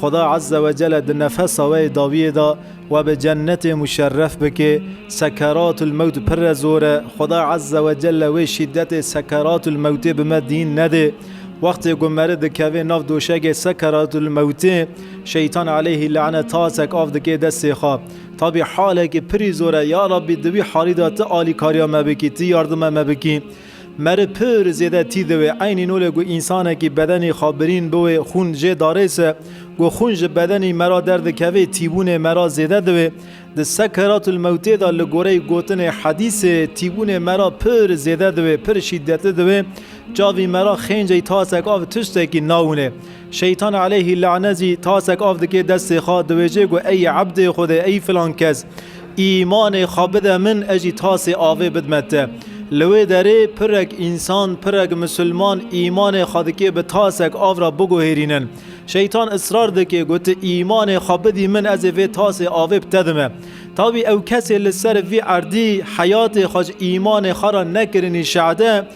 Xuda Ezze ve Celle di nefesa we yê dawiyê de we bi cennetê muşerref bike. Sekeratül mewt pirre zor e. Xuda Ezze ve Celle wê şîdetê sekeratül mewtê bi me dîn nede. Wextê ku meri dikeve nav doşegê sekeratül mewtê, şeytan aleyhî lane tasek av dike destê xwe. Tabî halekî pirî zor e. Ya Rabbî di wî halî de ti alîkariya me bikî, ti yardime me bikî. Meri pir zêde tî diwê. Eynî nolê ku însanekî bedenî xwe birîn biwê xûn jê darêse. Ku xûn ji bedenî mera derdikevê tîbûnê mera zêde diwê. Di sekeratül mewtê de li goreyî gotinê hedîsê tîbûnê mera pir zêde diwê, pir şîdetli diwê. Çavî mera xênceyî tasek av tiştekî nawinê. Şeytan aleyhî lane zî tasek av dike destê xwe, diwêje ku ey ebdê Xwedê, ey filan kes, îmanê xwe bide min, ez jî tasê avê bidme te. Li wê derê pirek însan, pirek misilman îmanê xwe dike bi tasek av re biguhêrînin. Şeytan israr dike ku tu îmanê xwe bidî min ez ê vê tasê avê bi te dime. Tawî ew kesê li ser vî erdî heyatê xwe ji îmanê xwe re nekirinî şehde,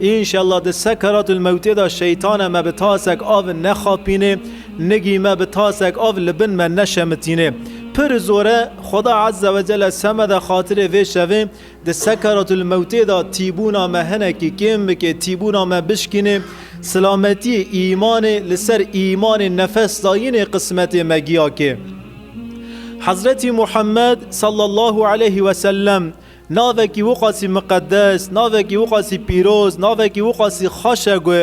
Înşellah di sekeratul mewtê de şeytane me bi tasek av nexapînê, nigî me bi tasek av li bin me neşemitînê. Pir zor e Xweda Ezze ve Celle seme de xatirê vê şevê di sekeratul mewtê de tîbûna me hinekî kêm bike, tîbûna me bişkînê. Silametiyê îmanê li ser îmanê nefes dayînê qismetê me giya kê. Hezretî Muhammed Sallallahu Aleyhi Wesellem Navekî wiqasî miqedes, navekî wiqasî pîroz, navekî wiqasî xweş e ku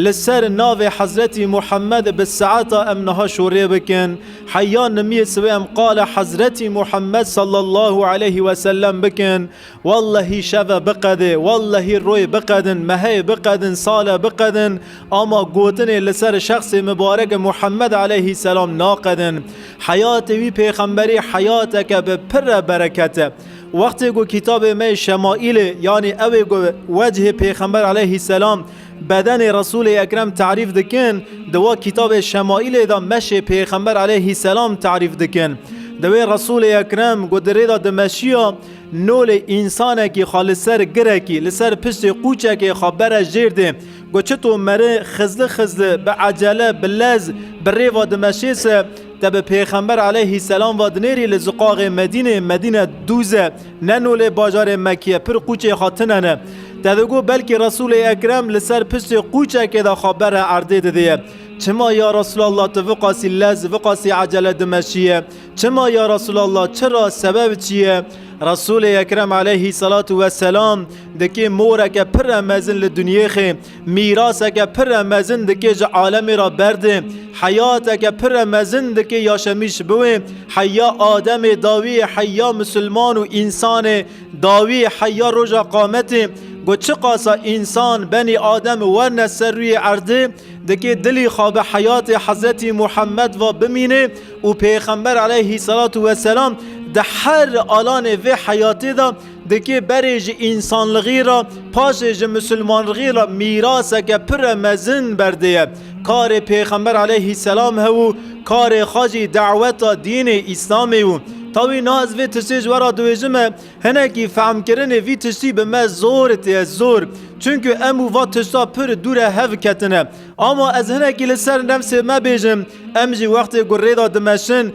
li ser navê Hezretî Muhemmed bi saeta em niha şorê bikin, heya nimiyê sibê em qala Hezretî Muhemmed sallallahu aleyhi ve sellem bikin, wellehî şeve biqedê, wellehî royê biqedin, meheyê biqedin, sale biqedin ama gotinê li ser şexsê mibareke Muhemmed aleyhî selam naqedin. Heyatê wî pêxemberî heyateke bi pirre bereket e. Wextê ku kitabê me Şemaîlê yanî ew ê ku wecihê Pêxember aleyhî selam bedenê Resûlê Ekrem terîf dikin, di we kitabê Şemaîlê de meşê Pêxember aleyhî selam terîf dikin. Divê Resûlê Ekrem ku di rêda dimeşiya nolê însanekî xwe li ser girekî, li ser piştê qûçekê xwe bere jêr dê ku çito meri xizli xizli, bi ecele, bi lez bi rêva dimeşê se, Te bi Pêxember aleyhî selam ve dinêrî li ziqaxê Medînê, Medîne dûze, ne no lê bajarê Mekiye, pir qûçê xwe tine ne. Te digot belkî Resûlê Ekrem li ser pisê qûçekê de xwe bere erdê didiye. Çima ya Resûlallah tu viqasî lez, viqasî ecele dimeşiye? Çima ya Resûlallah çira, sebeb çi ye? Resûlê Ekrem aleyhî selatû weselam di kê moreke pir re mezin li dunyêxê, Mîraseke pire mezin dikê ji alemê re berdê, heyateke pire mezin dikê Yaşemîş biwê, heyya Ademê dawî heyya misilman û însanê dawî heyya roja qametê. Ku çiqasa însan benî Adem werne ser rûyê erdê dikê dilî xwe bi heyatê Hezretî Muhemed ve bimînê û pêxember eleyhî selatû weselam di her alanê vê heyatê de Dikê berê ji însanlixî re paşê ji misilmanrixî re mîraseke pire mezin berdê ye. Karê Pêxember aleyhîsselam hew û karê xwe jî daweta dînê Îslamê û tawî niha ez vê tiştê ji we re diwêjim e hinekî fehmkirinê vî tiştî bi me zor tê ye zor çunku em û va tişta pir dûre hev ketine ama ez hinekî li ser nefsê me bêjim em jî wextê ku rêda dimeşin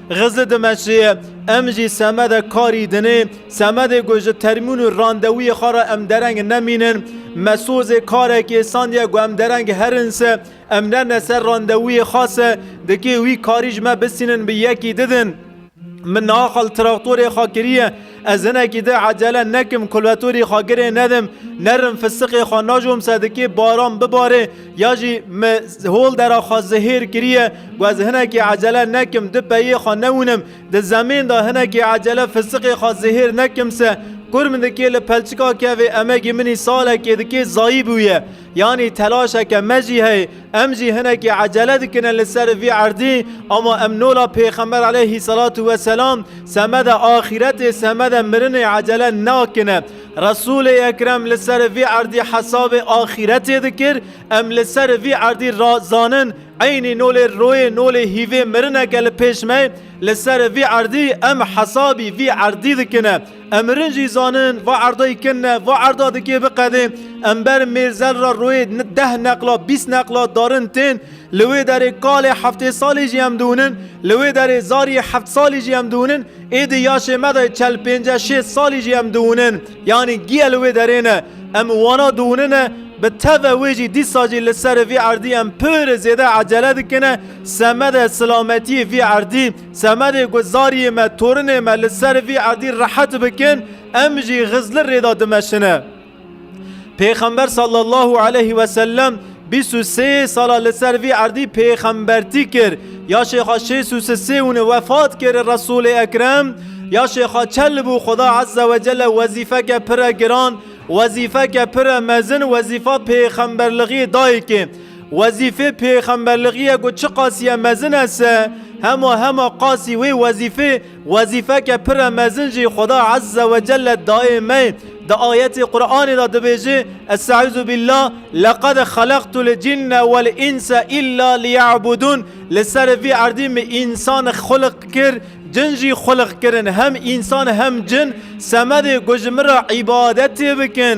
Xizê dimeşê ye, em jî semede karî dinê, semedê ku ji termîn û randewûyê xwe re em dereng nemînin. Me sozê karê kêsandiye ku em dereng herin se, em nerne ser randewûyê xwe se, dikê wî karî ji me bisînin bi yekî didin. Min axal traktorê xwe kiriye. Ez hinekî di ecele nekim kulveturî xwe girê nedim, nerim fisiqê xwe najom se dikê baran bibarê ya jî me hol dera xwe zihêr kiriye ku ez hinekî ecele nekim di peyê xwe newînim di zemên de hinekî ecele fisiqê xwe zihêr nekim se Kur min dikê li pelçika kevê emegî minî salekê dikê zayî bûye. Yanî telaşeke me jî heye, em jî hinekî ecele dikine li ser vî erdî, ama em nola Pêxember aleyhî selatû we selam semeda axîretê semeda mirinê ecele nakine. Resûlê Ekrem li ser vî erdî hesabê axîretê dikir, em li ser vî erdî ra zanin eynî nolê royê nolê hîvê mirineke li pêş me ye, li ser vî erdî em hesabî vî erdî dikine. Em mirin jî zanin va erdayî kin e, va erda dikê biqedê. Em ber mêrzel re royê deh neqla, bîst neqla darin tên. Li wê derê kalê heftê salî jî em diwinin, li wê derê zariyê heft salî jî em diwinin, ê di yaşê me de çel pênce şêst salî jî em diwinin. Yanî giya li wê derê ne. Em wana diwinin e. Bi teve wê jî dîsa jî li ser vî erdî em pir zêde ecele dikine semedê silametiyê vî erdî. Semedê ku zariyê me, torinê me li ser vî erdî rehet bikin, em jî Xizlir rê de dimeşine. Pêxember sallallahu aleyh ve sellem bîst û sê sala li ser vî erdî pêxembertî kir. Ya şêxa şêst û sisê hûn wefat kir Resûlê Ekrem ya şêxa çel bû Xuda eze ve cele wezîfeke pire giran, wezîfeke pire mezin, wezîfa pêxemberlixiyê dayikê. Wezîfê pêxemberligiye ku çi qasiye mezin e se, hema hema qasî wê wezîfê wezîfeke pire mezin jî Xweda Ezze ve Celle dayê me ye. Di ayetê Quranê de dibêje, Est'ezubîllah, Leqed xelaqtul cinne wel înse îlla liyebûdûn, Li ser vî erdî min însan xulq kir, cin jî xulq kirin, hem însan hem cin semedê ku ji min re îbadetê bikin.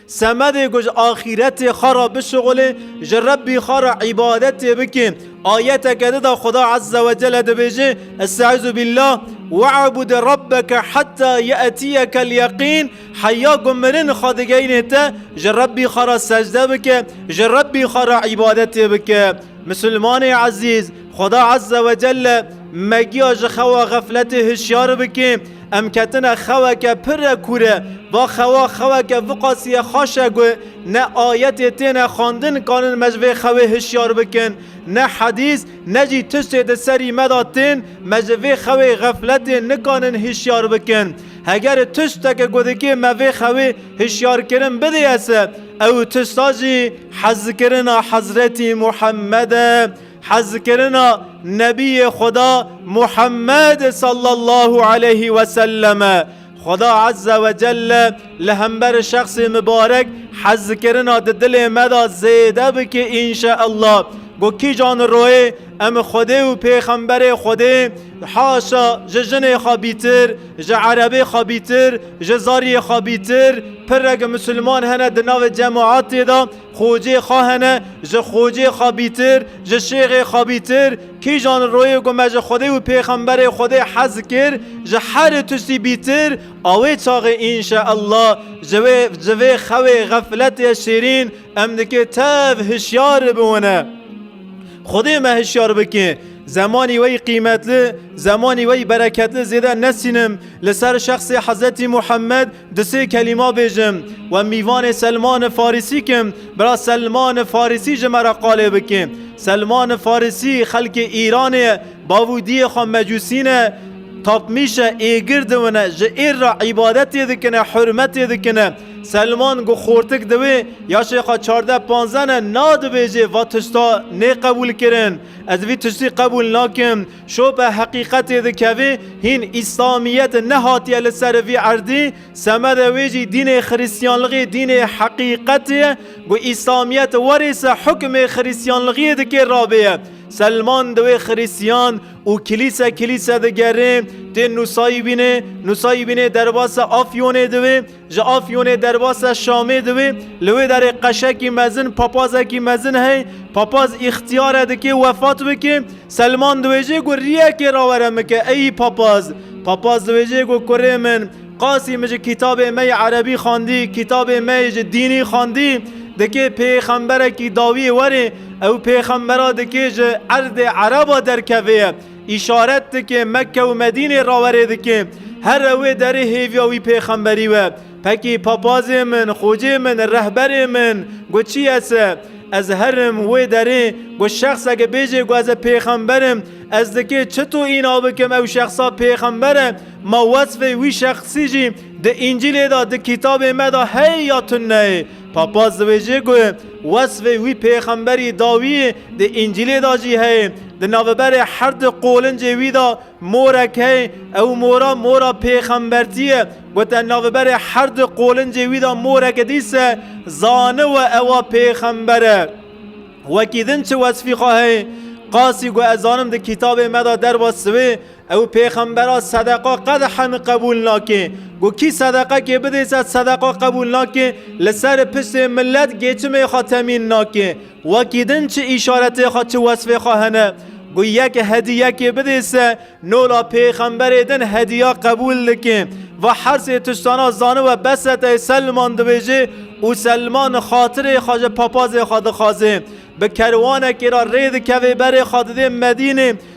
Semedê got axîretê xwe re bişuxulê, ji Rebbî xwe re îbadetê bike. Ayeteke di de Xweda Ezze we Celle dibêje, Estaizu bîllah, We'bud Rebbeke heta ye'tiyekel yeqîn, Heya ku mirin xwe digeyne te, ji Rebbî xwe re secde bike, ji Rebbî xwe re îbadetê bike. Misilmanê ezîz! Xweda Ezze ve Celle megiya ji xewa xefletê hişyar bike, em ketine xeweke pir re kûre, va xewa xeweke viqasîye xaş e ku ne ayetê têne xwendin kanin me ji vê xewê hişyar bikin, ne hedîs ne jî tiştê di serî me de tên me ji vê xewê xefletê nikanin hişyar bikin. Heger tişteke ku dikê me vê xewê hişyarkirin bidêese ew tişta jî hezkirina Hezretî Muhemmed e, Hezkirina Nebiyê Xweda Muhemmed sallallahu aleyhî we sellem e. Xweda ezze we celle li hember şexsê mibarek hezkirina di dilê me de zêde bike înşeellah. Ku kîjan royê em Xwedê û pêxemberê Xwedê haşa ji jinê xabîtir, ji erebê xabîtir, ji zaryê xabîtir pirek misilman hene di navê cemaetê de, Xocê xwe hene ji Xocê xwebîtir, ji Şêxê xwebîtir, kîjan li royê ku me ji Xwedê û Pêxemberê Xwedê hez kir, ji herî tiştî bîtir, a wê çaxê înşe Ella ji wê ji vê xewê xefletê şêrîn em dikê tev hişyar biwine. Xwedê me hişyar bike. Zemanî wey qîmetli, zemanî wey bereketli zêde nesînim, li ser şexsê Hezretî Muhammed Di sê kelîma bêjim we mîvanê Selmani Farisî kim bira Selmani Farisî ji me re qalê bike. Selmani Farisî xelkê Îranê ye bav û diyê xwe mecûsî ne tapmîş e êgir diwine ji êr re îbadetê dikine hurmetê dikine. Selman ku xortik diwê ya şêxa çardeh panzdeh ne nadibêjê va tişta nê qebûl kirin ez vî tiştî qebûl nakim. Şope heqîqetê dikevê hîn îslamiyet nehatiye li ser vî erdî, semedê wê jî dînê xirîstiyanlixî dînê heqîqetê ye ku îslamiyet warê se hukmê xirîstiyanlixîyê dikê rabêye. Selman di wê xirîstiyan û kilîse kilîse digerê tê nûsayîbînê, nûsayîbînê derbase Afyonê di wê Ji Afyonê derbasîa Şamê di wê, li wê derê qeşekî mezin, papazekî mezin hey, papaz îxtîyare dike wefat bike, Selman diwêjê ku rîyekê rawere min ke eyî papaz. Papaz diwêjê ku kurê min, qasî min ji kîtabê me yê erebî xwendî, kîtabê me yê ji dînî xwendî, dikê pêxemberekî dawîyê were, ew pêxembera dikê ji erdê ereba derkevê ye, Îşaret dike Mekke û Medînê rawerê dike. Here wê derê hêviya wî pêxemberî we. Pekî papazê min, xocê min, rehberê min, got çi ye se? Ez herim wê derê, got şexseke bêjê ku ez e pêxember im, ez dikê çito îna bikim ew şexsa pêxember e, ma wesfê wî şexsî jî di Încîlê de di kîtabê me de heye ya tuneyê? Papaz dibêje ku wesfê wî pêxemberî dawiyê di Încîlê de jî heye. Di naveberê her di qolincê wî de morek heye. Ew mora mora pêxembertî ye. Gote naveberê her di qolincê wî de moreke dî se zaniwe ewa pêxember e. Wekî din çi wesfî xwe heye? Qasî ku ez zanim di kîtabê me de derwesiwê. Ew pêxembera sedeqa qedexen qebûl nake. Ku kî sedeqekê bidê se sedeqa qebûl nake, li ser pirsê milet gêtimê xwe temîn nake. Wekî din çi îşaretê xwe çi wesfê xwe hene. Ku yek hediyekê bidê se nola pêxemberê din hediya qebûl dike. Va hersê tiştana zaniwe bese tê Selman dibêje û Selman xatirê xwe ji papazê xwe dixwaze. Bi kerwanekê re rê dikeve berê xwe didê Medînê.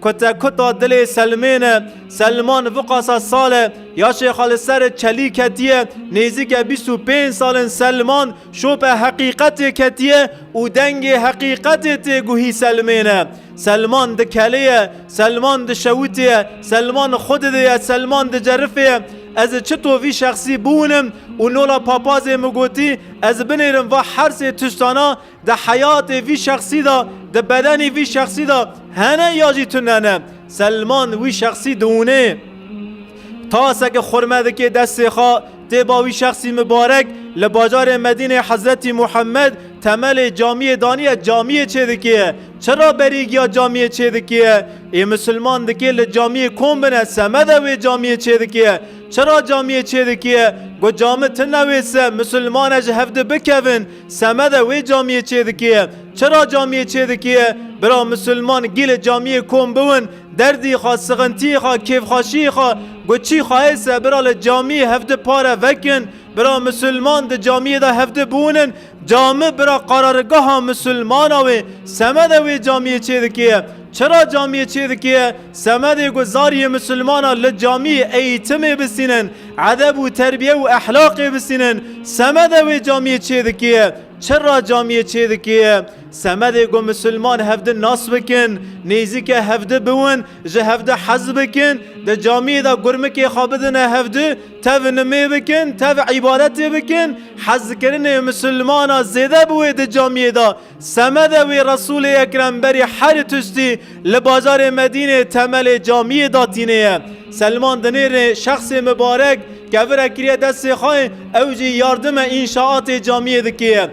Kute kuta dilê Selmên e. Selman viqasa sal e. Ya şêxa li ser çelî ketiye. Nêzîke bîst û pênc sal in Selman şope heqîqetê ketiye û dengê heqîqetê tê guhî Selmên e. Selman di kelê ye. Selman di şewitê ye. Selman xwe didê ye. Selman di cerifê ye. Ez çi to vî şexsî biwînim û nola papazê min gotî ez binêrim va hersê tiştana Di heyatê vî şexsî de, di bedenê vî şexsî de hene ya jî tune ne. Selman wî şexsî diûnê. Taseke xurme dike destê xwe tê ba wî şexsî mibarek li bajarê Medînê Hezretî Muhemed temelê camiyê daniye camiyê çêdikê. Çira berî giya camiyê çêdikê? Ê misilman dike li camiyê kom bine semede wê camiyê çêdikê. Çira camiyê çêdikê? Got cami tune wê se misilmane ji hev di bikevin. Semede wê camiyê çêdikêye. Çira camiyê çêdikêye? Bira misilman gî li camiyê kom biwin, derdî xwe, sixintiyê xwe, kêfxweşiyê xwe, ku çî xweyê se bira li camiyê hevdi pare vekin. Bira misilman di camiyê de hevdi biwinin. Cami bira qararigaha misilmana wê. Semede wê camiyê çêdikêye? Çira camiyê çêdikê, semedê ku zariyê misilmanan li camiyê eyitimê bisînin, edeb û terbiye û ehlaqê bisînin, semede wê camiyê çêdikê. Çira camiyê çêdikê, semedê ku misilman hevdi nas bikin, nêzîke hevdi biwin, ji hevdi hez bikin, di camiyê de gurmikê xwe bidine hevdi, tev nimê bikin, tev îbadetê bikin, hezkirinê misilmanan zêde biwê di camiyê de. Semede wî Resûlê Ekrem berî herî tiştî li bajarê Medînê temelê camiyê da tînê ye. Selman di nêrê şexsê mibarek kevire kiriye destê xwe ê ew jî yardime înşaatê camiyê dikê ye.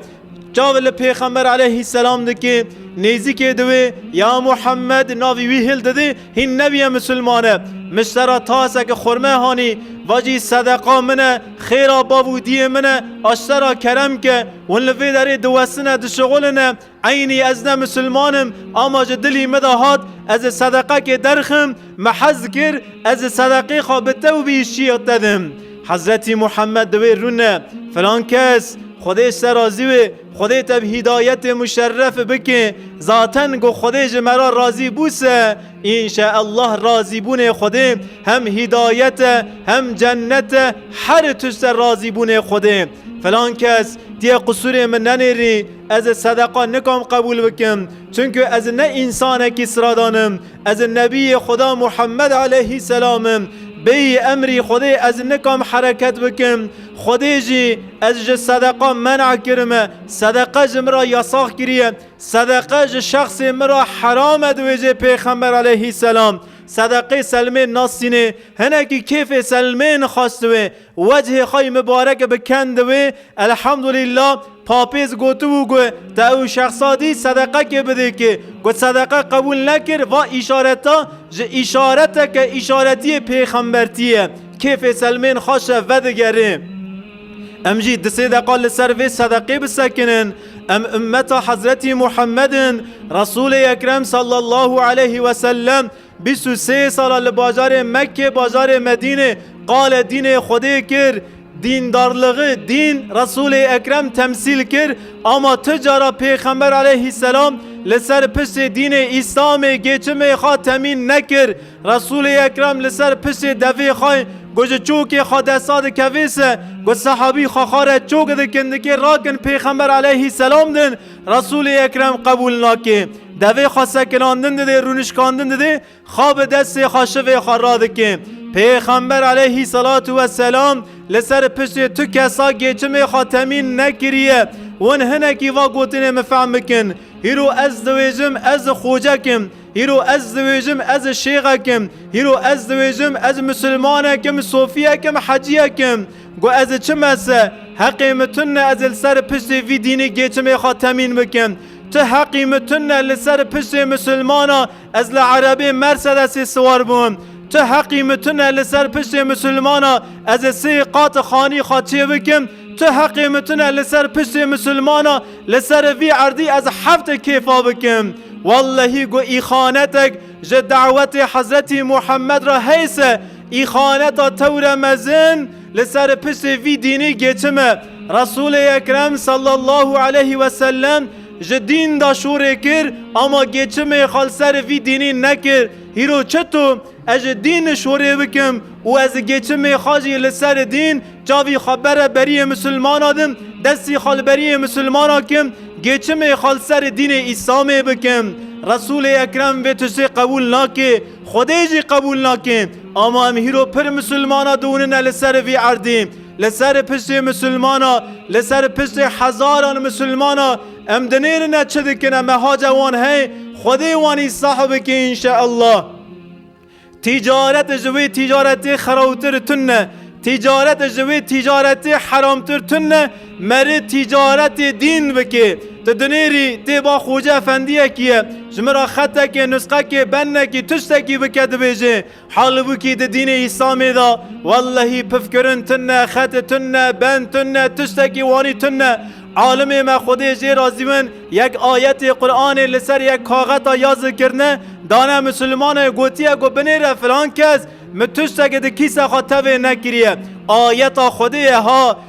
Çav li Pêxember aleyhîsselam dikê, nêzîkê diwê ya Muhemmed navî wî hil didê, Hîn nebîye misilman e. Miştera taseke xurme hanî, vacî sedeqa min e, xêra bav û dîyê min e, aştera kerem ke, hûn li vê derê diwestine dişixuline, eynî ez ne misilman im, ama ji dilî min de hat, ez ê sedeqekê derxim, min hez dikir, ez ê sedeqê xwe bi te û bi îşçiyê te dim. Hezretî Muhammed di wê rûne, Filan kes, Xwedê ji te razî wê, Xwedê te bi hîdayetê muşerref bike, zaten ku Xwedê ji me re razî bûse, înşeellah razîbûnê Xwedê hem hîdayet e hem cennet e her tişt e razîbûnê Xwedê. Filan kes tiyê qisûrê min nenêrî, ez ê sedeqa nikom qebûl bikim, çunku ez ne însanekî siradan im, Ez Nebiyê Xweda Muhammed eleyhî selam im. Bêyî emrî Xwedê ez nikam hereket bikim. Xwedê jî ez ji sedeqa men'a kirime. Sedeqa ji min re yasax kiriye. Sedeqa ji şexsê min re heram e diwêjê Pêxember eleyhî selam sedeqê selmên nasînê. Hinekî kêfê selmê nixastiwê. Wecihê xwe yê mibarek bi kend wê, Elhamdulîla, Papêz gotibû ku te ew şexsa dî sedeqekê bidê kê. Ku sedeqe qebûl nekir, va îşareta ji îşareteke îşaretiyê pêxembertî ye. Kêfê Selmên Xaşe vedigerê. Em jî du sê deqa li ser vê sedeqê bisekinin. Em ummeta Hezretî Muhemmed in, Resûlê Ekrem sallallahu aleyhi wesellem, Bîst û sê sala li bajarê Mekke bajarê Medînê qale dînê Xwedê kir, dîndarligi dîn Resûlê Ekrem temsîl kir ama tu cara pêxember aleyhî selam li ser piştê dînê Îslamê gêçimê xwe temîn nekir. Resûlê Ekrem li ser piştê devê xwe ku ji çokê xwe desta dikevê se ku sehabî xwe xare çok dikin dikê rakin pêxember aleyhî selam din Resulê Ekrem qebûl nake. Devê xwe sekirandin didê rûnişkandin didê xwe bi destê xwe şivê xwe radike. Pêxember eleyhî selatû we selam li ser piştê tu kesa gêçimê xwe temîn nekiriye. Hûn hinekî va gotinê min fehm bikin, Hîro ez diwêjim ez xocek im, hîro ez diwêjim ez şêxek im, hîro ez diwêjim ez misilmanek im, sofiyek im, heciyek im. Got ez ê çi mese, heqê min tune ez ê li ser piştê vî dînî gêçimê xwe temîn bikim. Tu heqî min tune li ser piştê misilmanan ez li erebê mersedesê siwar bûm. Tu heqî min tune li ser piştê misilmanan ez ê sê qat xanî xwe çê bikim. Tu heqê min tune li ser piştê misilmanan li ser vî erdî ez heft kêfa bikim. Wellehî got îxanetek ji dewetê Hezretî Muhammed re heyse, Îxaneta tewre mezin li ser pisê vî dînî geçim e. Resûlê Ekrem sallallahu aleyhi ve sellem ji dîn de şûrê kir ama geçimê xwe li ser vî dînî nekir. Hîro çito ez ji dîn şûrê bikim û ez geçimê xwe jî li ser dîn çavî xwe bere beriyê misilmana din, destî xwe li beriyê misilmana kim, geçimê xwe li ser dînê Îslamê bikim. Resûlê Ekrem vê tiştê qebûl nake. Xwedê jî qebûl nakin. Ama em hîro pir misilmana diwinine li ser vî erdê. Li ser piştê misilmana, li ser piştê hezaran misilmana em dinêrine çi dikine mehace wan hey, Xwedê wan îslah bike înşeellah. Tîcaret ji wê tîcaretê xerawtir tune. Tîcaret ji wê tîcaretê heramtir tune. Merê tîcaretê dîn bikê. Ti dinêrî tê ba Xoce Efendiyekî ye, ji min re xetekê, nusqekê, bennekî, tiştekî bike dibêje. Halibûkî di dînê Îslamê de wellehî pifkirin tune, xet tune, ben tune, tiştekî wanî tune. Alimê me Xwedê jê razî bin yek ayetê Quranê li ser yek kaxeta ya zikirine dane misilmane gotiye ku binêre filan kes min tiştekê di kîse xwe tevê nekiriye. Ayeta Xwedê ye ha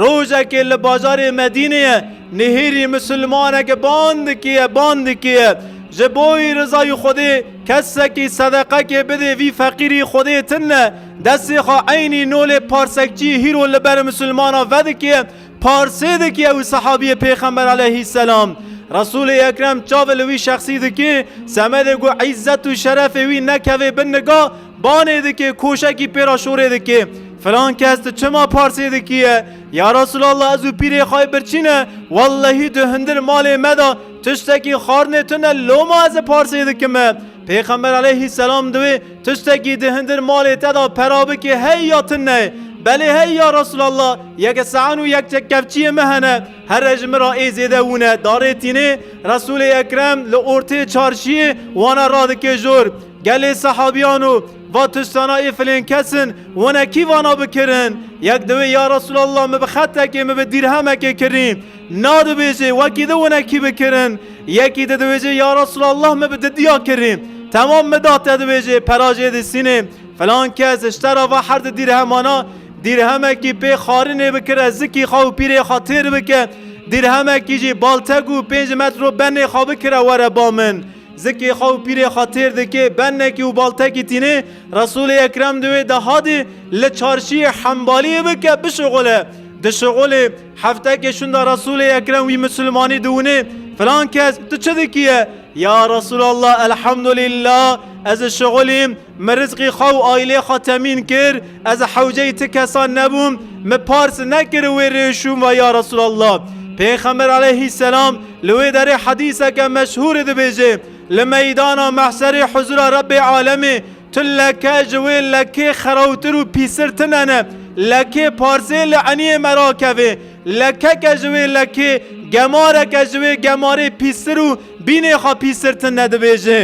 Rojekê li bajarê Medîneyê nihêrî misilmaneke bandikî ye, bandikî ye. Ji bo wî rizayî Xwedê kesekî sedeqekê bidê vî feqîrî Xwedê tine. Destê xwe eynî nolê parsekçî hîro li ber misilmanan vedikê, parsê dikê ew sehabiyê Pêxember aleyhîsselam. Resûlê Ekrem çavê li wî şexsî dikê, semedê ku îzzet û şerefê wî nekevê bin niga, Banê dikê, koşekî pê ra şorê dikê. Filan kes tu çima parsê dikî ye? Ya Resûlallah ez û pîrê xwe yê birçî ne, wellehî tu hundir malê me de tiştekî xwarinê tu ne loma ez ê parsê dikim e. Pêxember eleyhî selam di wê tiştekî di hundir malê te de pera bikê hey ya tu ne? Belê hey ya Resûlallah yek saen û yek çekkevçiyê me hene here ji min ra ê zêde wû ne. Darê tînê Resûlê Ekrem li ortê çarşiyê wan e radikê jor. Gelê sehabîyan û va tiştana îfilên kes in, wenekî vana bikirin. Yek diwê ya Resûlallah min bi xetekê min bi dîrhemekê kirî. Na dibêjê wekî di wenekî bikirin. Yekî di diwêjê ya Resûlallah min bi di diya kirî. Temam min da te dibêjê pera jê disînê. Filan kes işte ra va herd dîrhemana dîrhemekî pê xarinê bikire zikî xwe û pîrê xwe têr bike. Dîrhemekî jî baltek û pênc metro benê xwe bikire were ba min. Zikê xwe û pîrê xwe têr dike, bennekî û baltekî tîne, Resûlê Ekrem di wê deha de li çarşîyê Hembaliyê bike bişuxule. Dişuxulê, hefteke şûnda Resûlê Ekrem wî Mislimanî diwine, Filan kes, tu çi dikî ye? Ya Resûlallah, Elhemdulîllah, ez dişuxulîm. Min rizqê xwe û aîlê xwe temîn kir, ez hewceyî ti kesan nebûm, min pars nekir wê rê şûm ve ya Resûlallah. Pêxember aleyhî selam li wê derê hedîseke meşhûrê dibêje, Li meydana mehşerê huzûra Rebbê alemê tu leke ji wê lekê xerawtir û pîstir tine ne. Lekê parsê li eniyê me rakeve, lekeke ji wê lekê, gemareke ji wê gemarê pîstir û Bînê xwe pîsirtin nedibêje.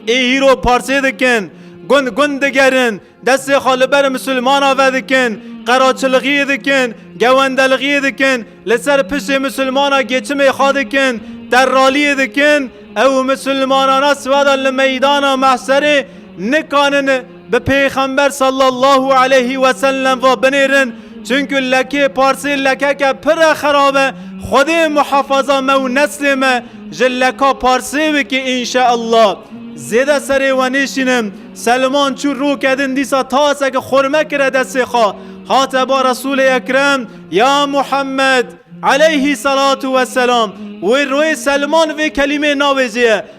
Ê hîro parsê dikin, gund gund digerin, destê xwe li ber misilmana vedikin, qeraçiliğiyê dikin, gewendeliğiyê dikin, li ser pişê misilmana geçimê xwe dikin, terraliyê dikin, ew misilmanana siweda li meydana mehserê nikanin Bi Pêxember sallallahu aleyhi ve sellem ve binêrin çunku lekê parsê lekeke pire xerab e Xwedê muhafaza me û neslê me ji leka parsê bike înşeallah. Zêde serê we nêşînim Selman çû roke din dîsa taseke xurme kire destê xwe hate ba Resûlê Ekrem ya Muhammed aleyhî selatu weselam wê royê Selman vê kelîmê navêjeye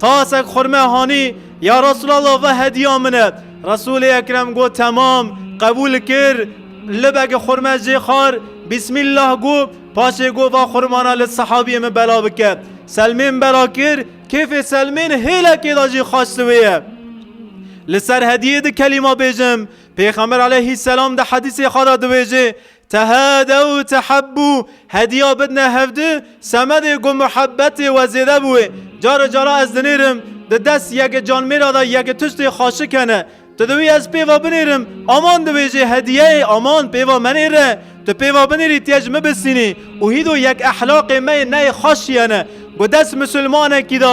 Tasek xurme hanî ya Resûlallah ve hediya min e. Resûlê Ekrem got temam, qebûl kir. Libeke xurme jê xar, Bîsmîllah got, paşê got va xurmana li sehabiyê min bela bike. Selmên bela kir, kêfê Selmên hêlekê da jî xaş li wê ye. Li ser hediyê di kelîma bêjim. Pêxember aleyhîsselam di hedîsê xwe de dibêje, Tehâdew tehabbû, hedîya bidine hevdu, semedê ku muhebbetê we zêde bûye. Care cara ez dinêrim, di dest yekê canmêra de yekê tiştê xaşik hene. Tu diwî ez pêva binêrim, aman dibêjê hedîyeyê, aman pêva menêre. Tu pêva binêrî tê ji min bisînî û hîdo yek ehlaqê me yê neyê xaşî hene ku dest misilmanekî de,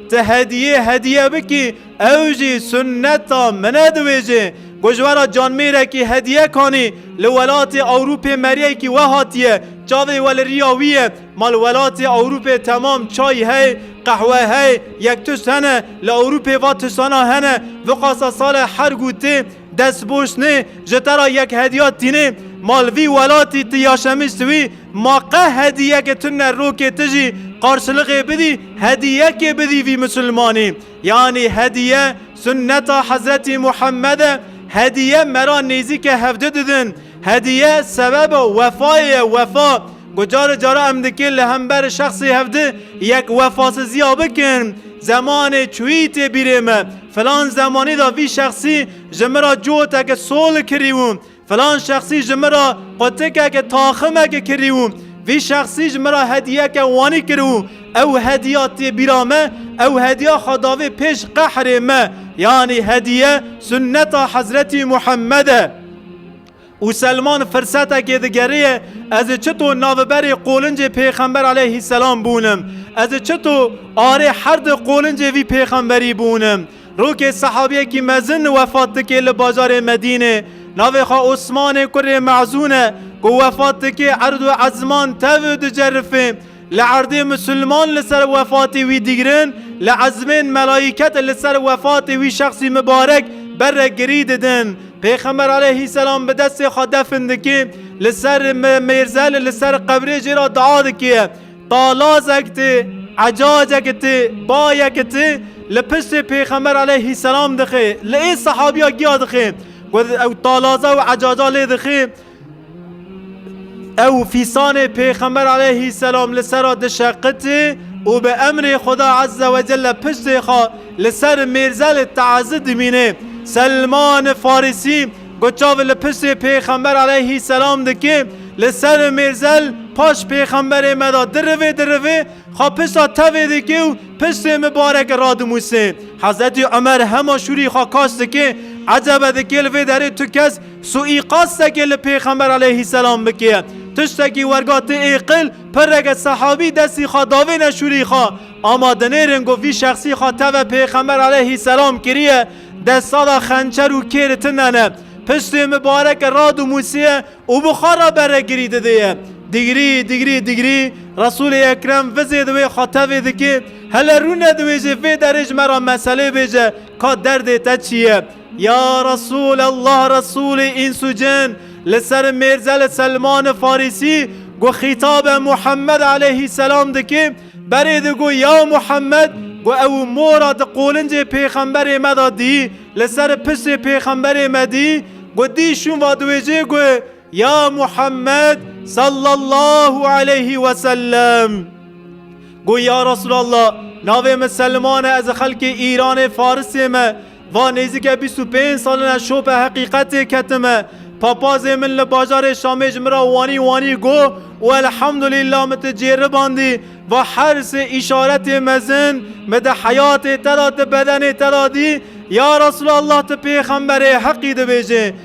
Ti hediyê hediye bikî ew jî sunneta min e dibêje. Ku ji we re canmêrekî hediye kanî li welatê Ewrûpê meriyekî we hatiye. Çavê we li riya wî ye. Ma li welatê Ewrûpê temam çay hey, qehwe hey, yektus hene. Li Ewrûpê va tisana hene. Viqasa sale her gûtê. Destboştnê ji te ra yek hediya tînê ma li vî welatî ti ya şemist wî ma qeh hediyeke tune rokê ti jî qarşiliqê bidî hediyekê bidî vî misilmanî yanî hediye sunneta hezretî Muhammed e hediye me ra nêzîke hevdi didin hediye sebeba wefayê ye wefa ku cari cara em dikê li hember şexsê hevdi yek wefasiziya bikin zemanê çûyî tê bîrê me Filan zemanî de vî şexsî ji min re coteke sol kirî û filan şexsî ji min re qutikeke taximeke kirî û vî şexsî ji min re hediyeke wanî kir û ew hediya tê bîra me, ew hediya xwe davê pêş qehrê me. Yanî hediye sunneta Hezretî Muhemmed e. Û Selman firsetekê digeriye, Ez ê çito naviberê qolincê pêxember aleyhîsselam bûnim? Ez ê çito arê her di qolincê vî pêxemberî bûnim? Rokê sehabiyekî mezin wefat dike li bajarê Medînê, navê xwe Osmanê kurê Mezûn e, ku wefat dike erd û ezman tev û dicerifê. Li erdê misilman li ser wefatê wî digirin, li ezmên melayîket li ser wefatê wî şexsî mibarek berek girî didin. Pêxember aleyhîsselam bi destê xwe defn dike, li ser mêrzel li ser qebrê jê re dua dike, Talazek ti, ecacek ti, bayek ti li piştê pêxember aleyhîsselam dixe, li ê sehabîya giya dixe ku ew talaza û ecaca lê dixe, Ew fîsanê Pêxember aleyhîsselam li ser a dişeqitî û bi emrê Xuda ezze ve celle piştê xwe li ser mêrzelê teezî dimînê. Selman Farîsî ku çav li piştê Pêxember aleyhîsselam dike li ser mêrzel paş Pêxemberê me de dirivê dirivê xwe pişta tevê dike û piştê mibarek radimûse. Hezretî Umer hema şûrî xwe kaş dike, Ecebe dike li vê derê tu kes Sûîqastekê li Pêxember aleyhîsselam bike, tiştekî werga ti êqil, pirreke sehabî destî xwe davê neşûrî xwe, ama dinêrin ku vî şexsî xwe teve Pêxember aleyhîsselam kiriye, desta de xençer û kêr tine ne, piştê mibareke radimûsiye û bixwe re berekirî didiye. Digrî, digrî, digrî, Resûlê Ekrem vizê di wê xwe tevê dike, hele rûne di wê jê vê derê ji me re meselê bêje ka derdê te çi ye? Ya Resul Allah Resulê îns û cin li ser mêrzelê Selman-i Farisî ku xîtabe Muhammed aleyhîsselam dike berê digo ya Muhammed ku ew û mora di qolincê pêxemberê me de dî li ser pirsê pêxemberê me dî ku dî şûn vadiwêjê ku Ya Muhammed sallallahu aleyhi ve sellem. Got ya Resulallah navê min Selman e ez li xelkê Îranê Farisê me va nêzîke bîst û pênc salin e şopê heqîqetê ketime. Papazê min li bajarê Şamê ji min re wanî wanî got û elhamdulîllah min tu cêribandî va her sê îşaretê mezin min di heyatê te de di bedenê te de dî ya Resulallah tu pêxemberê heqî dibêjê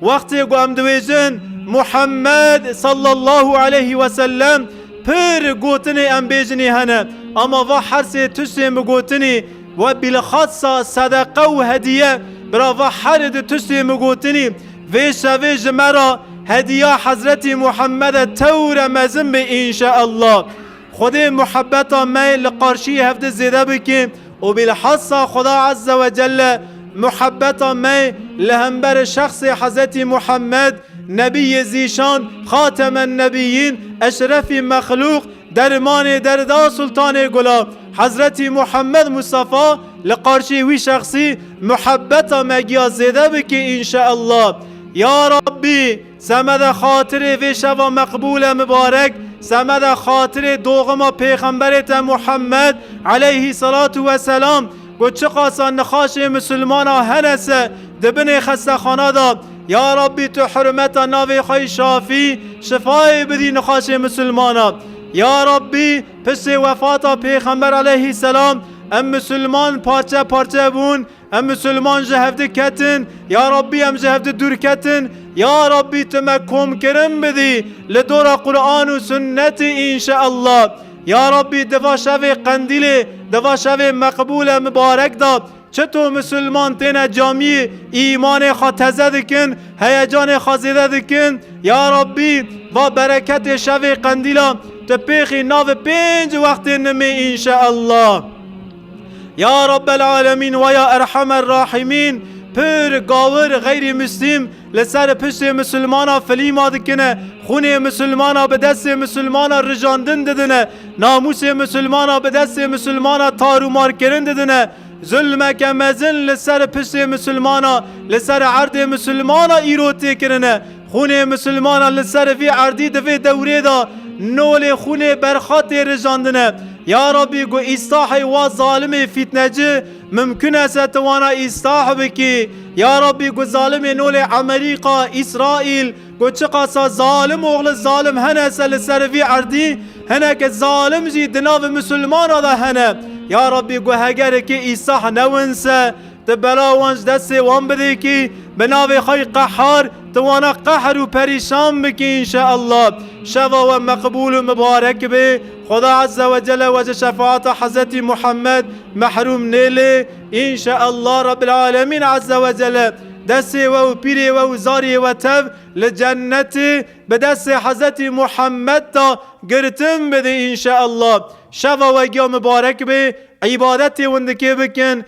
Wextê ku em dibêjin Muhammed sallallahu aleyhi ve sellem pir gotinê em bêjinê hene ama va hersê tiştên bi gotinê we bîlxasa sedeqe û hediye bira va herê di tiştên bi gotinê vê şevê ji me ra hediya Hezretî Muhammede tewre mezin bê înşeallah. Xwedê muhebeta me li qarşî hevdî zêde bike û bîlhassa Xweda Ezze we Celle muhebeta me li hemberî şexsê Hezretî Muhemmed, Nebîyê Zîşan, Xatemennebiyyîn, Eşrefî Mexlûq, Dermanê Derda Sultanê Gula Hezretî Muhemmed Mustafa li qarşî wî şexsî muhebeta me giya zêde bike înşeallah. Ya Rabbî! Semeda xatirê vê şeva meqbûl e mibarek, semeda xatirê doxima pêxemberê te Muhammed, eleyhî selatû we selam, ku çiqasa nixaşên misilmanan hene se di binê xestexana de, ya Rabbî tu hurmeta navê xwe yî şafî, şifayê bidî nixaşên misilmanan. Ya Rabbî piştê wefata pêxember eleyhî selam em misilman parçe parçe bûn, Em Musulman ji hev diketin, ya Rabbî em ji hev didûrketin, ya Rabbî tu me komkirin bidî li dora Quran û Sunnetê înşeellah. Ya Rabbî di va şevê qendîlê, di va şevê meqbûl e mibarek de çito Musulman têne camiyê îmanê xwe teze dikin, heyecanê xwe zêde dikin, ya Rabbî va bereketê şevê qendîla tu pêxî navê pênc wextê nimê înşeellah. Ya Rabbel Alemîn we ya Erhamer Rahîmîn pir, gawir, xeyrî Muslîm li ser piştê Musilmanan filîma dikine, xûnê Musilmanan bi destê Musilmanan rijandin didine, namûsê Musilmanan bi destê Musilmanan tarûmarkirin didine, zulmeke mezin li ser piştê Musilmanan li ser erdê Musilmanan îro tê kirine. Xûnê misilmanan li ser vî erdî di vê dewrê de nolê xûnê berxa tê rijandine. Ya Rabbî ku îstahê wa zalimê fîtneci mimkun e se tu wana îstah bikî. Ya Rabbî ku zalimê nolê Emerîka, Îsraîl ku çiqasa zalim oxli zalim hene se li ser vî erdî hineke zalim jî di navê misilmanan de hene. Ya Rabbî ku hegerikê îstah newin se Ti bela wan ji destê wan bidî kî bi navê xwe yî qehar, ti wana qehr û perîşan bikî înşeallah. Şeva we meqbûl û mibarek bê. Xweda Ezze we Celle we ji şefaata Hezretî Muhammed mehrûm nêlê. Înşeallah Rebbil Alemîn Ezze we Celle destê we û pîrê we û zariyê we tev li cennetê bi destê Hezretî Muhammed da girtin bidî înşeallah. Şeva we giya mibarek bê. Îbadetê windikê bikin.